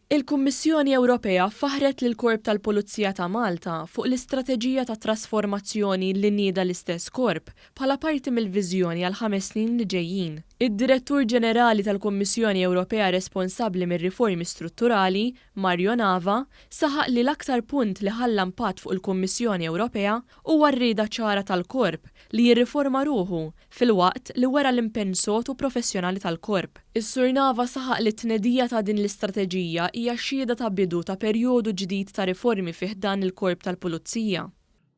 Il-Kummissjoni Ewropea faħħret lill-Korp tal-Pulizija ta' Malta fuq l-istrateġija ta' trasformazzjoni li nieda l-istess korp bħala parti mill-viżjoni għall-ħames snin li ġejjin. Id-Direttur Ġenerali tal-Kummissjoni Ewropea responsabbli mir-riformi strutturali, Mario Nava, saħaq li l-aktar punt li ħalla impatt fuq il-Kummissjoni Ewropea huwa r-rieda ċara tal-korp li jirriforma ruħu filwaqt li wera l-impenn sod u professjonali tal-Korp. Is-Sur Nava saħaq li t-tnedija ta' din l-istrateġija hija xhieda ta' bidu ta' perjodu ġdid ta' riformi fi ħdan il-Korp tal-Pulizija.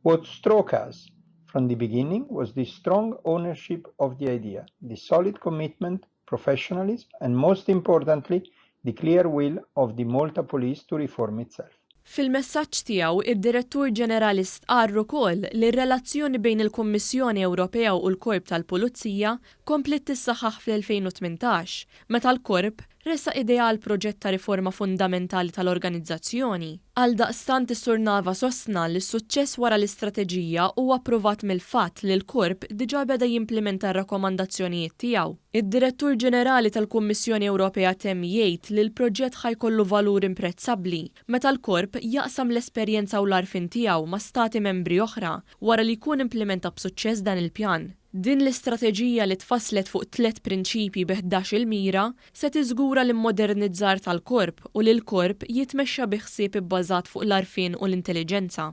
What struck us from the beginning was the strong ownership of the idea, the solid commitment professionalism and most importantly the clear will of the Malta Police to reform itself. Fil-messaġġ tiegħu, id-Direttur Ġenerali stqarr ukoll li r-relazzjoni bejn il-Kummissjoni Ewropea u l-Korp tal-Pulizija kompliet tissaħħaħ fl-2018, meta l-Korp ressaq idea għal proġett ta' riforma fundamentali tal-organizzazzjoni. Għaldaqstant is-Sur Nava sostna li s-suċċess wara l-istrateġija huwa pprovat mill-fatt li l-Korp diġà beda jimplimenta r-rakkomandazzjonijiet tiegħu. Id-Direttur Ġenerali tal-Kummissjoni Ewropea temm jgħid li l-proġett ħa jkollu valur imprezzabbli meta l-Korp jaqsam l-esperjenza u l-għarfien tiegħu ma' Stati Membri oħra wara li jkun implimenta b'suċċess dan il-pjan. Din l-istrateġija li tfasslet fuq tliet prinċipji bi ħdax-il mira Se tiżgura l-immodernizzar tal-Korp u li l-Korp jitmexxa bi ħsieb ibbażat fuq l-għarfien u l-intelliġenza.